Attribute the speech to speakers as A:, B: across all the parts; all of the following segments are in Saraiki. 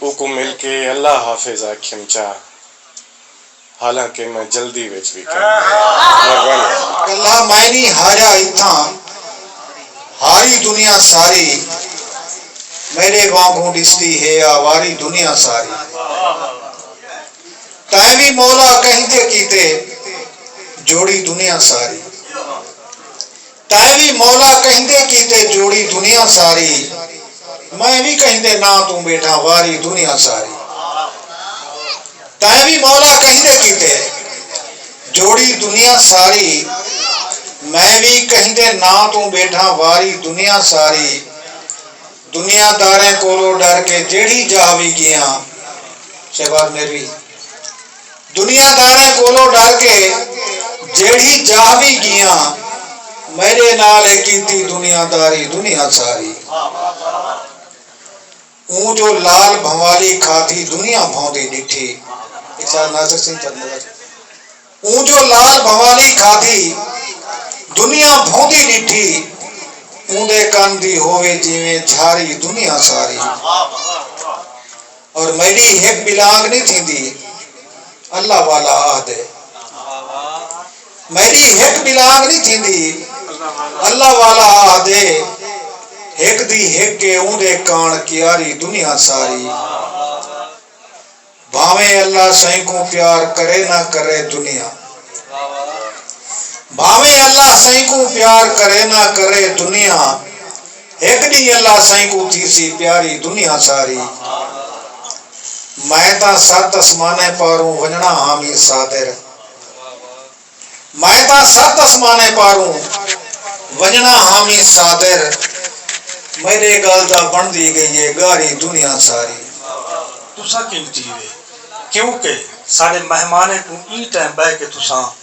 A: اوکوں مل کے اللہ حافظ آکھیم چا حالانکہ میں جلدی وچ وی کم ہاں۔ مہربانی۔ کلا
B: میں نی ہاریا اتھاں ہاری دنیا ساری میڈے وانگوں ڈسدی ہے آواری دنیا ساری تیں وی مولا کہیں تے کیتے جوڑی دنیا ساری تیں وی مولا کہندے کیتے جوڑی دنیا ساری میں وی کہندے ناں توں بیٹھاں واری دنیا ساری تیں وی مولا کہندے کیتے جوڑی دنیا ساری میں وی کہندے ناں توں بیٹھاں واری دنیا ساری دنیا داریں کولو ڈر کے جیڑھی جاہ وی گیاں شہباز میروی۔ دنیا داریں کولوں ڈر کے جیڑھی جاہ وی گیاں میڈے نال ہے کیتی دنیا داری دنیا ساری اوں جو لال بھنوالی کھادھی دنیا بھوندی ڈٹھی اوں جو لال بھنوالی کھادھی دنیا بھوندی ڈٹھی اوں دے کن دی ہووے جیویں جھاری دنیا ساری اور میڈی ہک بھی لانگ نی تھیندی اللہ والا آہدے میڈی ہک بھی لانگ نی تھیندی اللہ والا آہدے ہک دی ہک اے اوندے کان کیاری دنیا ساری بھاویں اللہ سائیں کوں پیار کرے نہ کرے دنیا بھاویں اللہ سائیں کوں پیار کرے نہ کرے دنیا ہک ݙینہہ اللہ سئیں کوں تھیسی پیاری دنیا ساری میں تاں ست اسمانیں پاروں ونڄݨا ہاں میر صابر میں تاں ست اسمانیں پاروں ونڄݨا ہاں میر صابر میݙے ڳل دا بݨدی ڳئی اے ڳاری دنیا ساری۔ تساں
C: کیوں تھی وے کیوں کہ ساݙے مہمانیں کوں ایں ٹائم ٻہہ کے تساں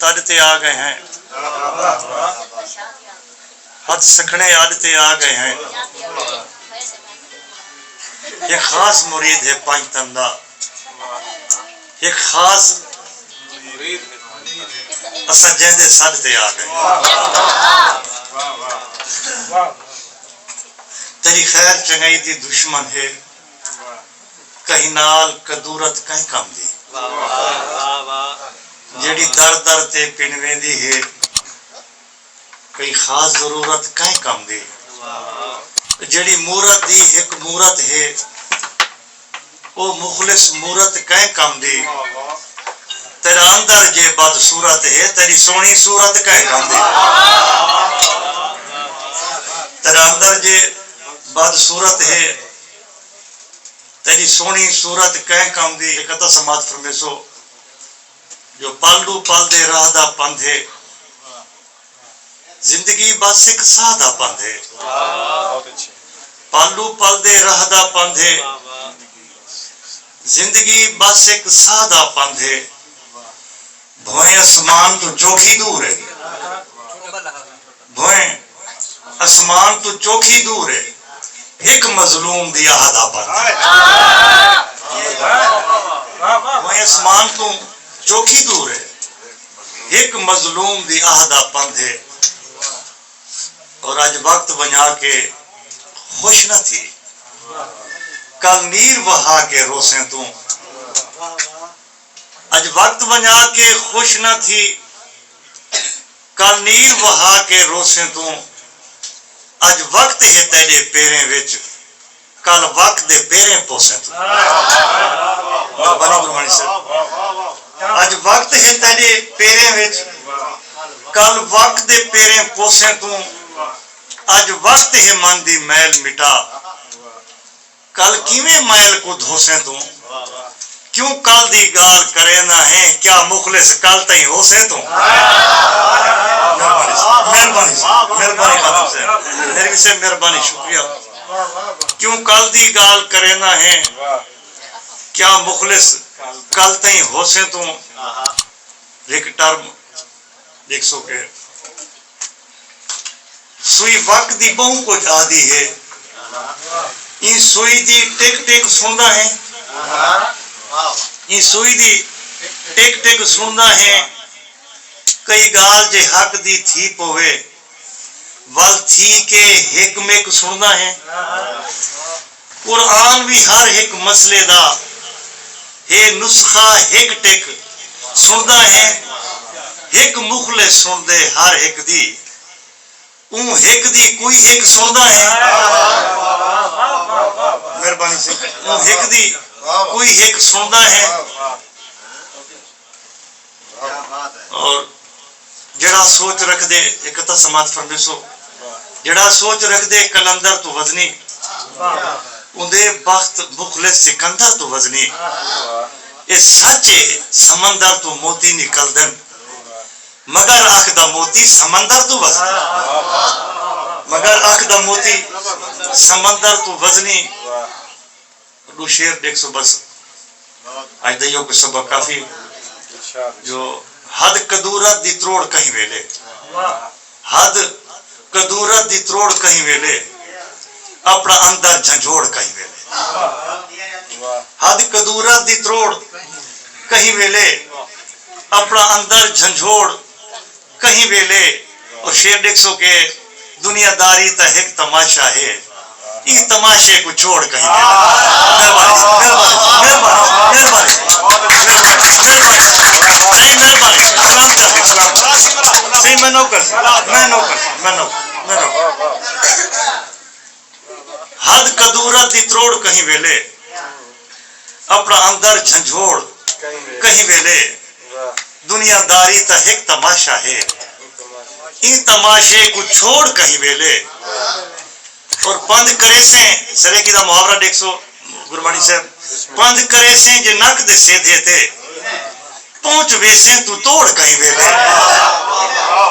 D: تڈ تے آ گئے ہیں۔ ہتھ سکھنے اڈ تے آ گئے ہیں۔ ہک خاص مرید ہے پنج تن دا۔ ہک خاص اساں جیندے سڈ تے آ گئے ہیں۔ تیڈی خیر چنگائی دی دشمن ہے۔ کہیں نال کدورت کائیں کم دی۔ جیڑھی در در تے پن ویندی ہے۔ کہیں خاص ضرورت کائیں کم دی۔ جیڑھی مورت دی ہک مورت ہے۔ او مخلص مورت کائیں کم دی۔ تیڈا اندر جے بد صورت ہے۔ تیڈی سوہنی صورت کائیں کم دی۔ تیڈا اندر جے بد صورت ہے۔ تیݙی سوہݨی صورت کئیں کم دی ہک ادھا سماعت فرمیسو جو پل ݙو پل دے راہ دا پندھ ہے زندگی بس ہک ساہ دا پندھ ہے پل ݙو پل دے راہ دا پندھ ہے زندگی بس ہک ساہ دا پندھ ہے بھوئیں اسمان توں چوکھی دور ہے بھوئیں اسمان توں چوکھی دور ہے ہک مظلوم دی آہ دا پردہ بھوئیں اسمان توں چوکھی دور ہے ہک مظلوم دی آہ دا پندھ ہے اور اج وقت ونجا کے خوش نہ تھی کل نیر وہا کے روسیں توں اج وقت ونجا کے خوش نہ تھی کل نیل وہا کے روسیں توں اج وقت ہے تیڈے پیریں وچ کل وک دے پیریں پوسیں توں مہربانی گربانی صاحب اج وقت ہے تیڈے پیریں وچ کل وک دے پیریں پوسیں توں اج وقت ہے من دی میل مٹا کل کیویں میل کوں دھوسیں توں کیوں کل دی گالھ کریندا ہیں کیا مخلص کل تئیں ہوسیں توں مہربانی صاحب مہربانی صاحب مہربانی خادم صاحب میری وی صاحب مہربانی شکریہ کیوں کل دی گالھ کریندا ہیں کیا مخلص کل تئیں ہوسیں توں ہک ٹرم ݙیکھسو کہ سوئی وک دی ٻہوں کجھ آہدی ہے۔ ایں سوئی دی ٹک ٹک سݨدا ہیں۔ ایں سوئی دی ٹک ٹک سݨدا ہیں۔ کئی ڳالھ جے حق دی تھی پووے۔ ول تھی کے ہک مک سنڑدا ہیں۔ قرآن وی ہر ہک مسئلے دا ہے نسخہ ہک ٹک سنڑدا ہیں۔ ہک مخلص سنڑدے ہر ہک دی اوں ہک دی کوئی ہک سنڑدا ہیں۔ مہربانی سئیں اوں ہک دی کوئی ہک سنڑدا ہیں۔ اور جیڑھا سوچ رکھدے اک تاں سماعت فرمیسو جیڑھا سوچ رکھدے قلندر توں وزنی اوندے بخت مخلص سکندر توں وزنی اے سچ اے سمندر توں موتی نکلدن مگر اکھ دا موتی سمندر توں وزنی مگر اکھ دا موتی سمندر توں وزنی ݙو شعر ݙیکھسوں بس اڄ دا ایہو کجھ سبق کافی ہے جو حد کدورت دی تروڑ کہیں ویلے حد کدورت دی تروڑ کہیں ویلے اپݨا اندر جھنجھوڑ کہیں ویلے حد کدورت دی تروڑ کہیں ویلے اپݨا اندر جھنجھوڑ کہیں ویلے او شعر ݙیکھسو کہ دنیا داری تاں ہک تماشا ہے ایں تماشے کوں چھوڑ کہیں دے نہ ونڄو۔ حد قدورت دی تروڑ کہیں ویلے اپنا اندر جھنجھوڑ کہیں ویلے دنیا داری تاں ہک تماشہ ہے ایں تماشے کوں چھوڑ کہیں ویلے اور پندھ کریسیں سریکی دا محاورہ ڈیکھ سو گرمانی صاحب پندھ کریسیں جے نک دے سیدھے تے پہنچ ویسیں تو توڑ کہیں ویلے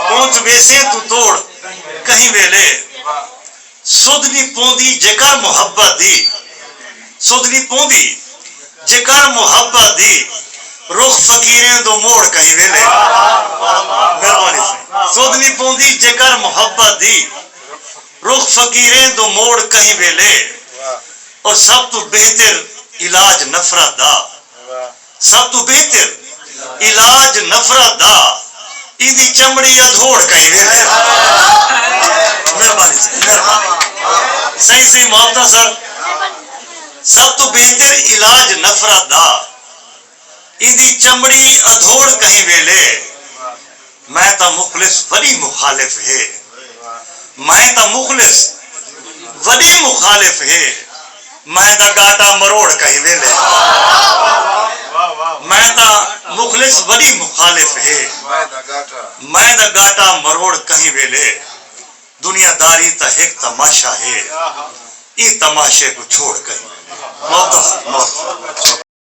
D: پہنچ ویسیں تو توڑ کہیں ویلے سدھ نی پوندی جیکر محبت دی سدھ نی پوندی جیکر محبت دی رخ فقیریں دو موڑ کہیں ویلے مہربانی سائیں سدھ نی پوندی جیکر محبت دی رخ فقیریں دو موڑ کہیں ویلے اور سب توں بہتر علاج نفرت دا سب توں بہتر علاج نفرت دا ایندی چمڑی ادھوڑ کہیں ویندے مہربانی سئیں مہربانی سئیں سئیں محبتاں سر سب توں بہتر علاج نفرت دا ایندی چمڑی ادھوڑ کہیں ویلے۔ میں تاں مخلص وݙی مخالف ہے میں تاں مخلص وݙی مخالف ہے میں دا ڳاٹا مروڑ کہیں ویلے میں تاں مخلص وݙی مخالف ہے میں دا ڳاٹا مروڑ کہیں ویلے دنیا داری تاں ہک تماشہ ہے ایں تماشے کوں چھوڑ کہیں ویلے۔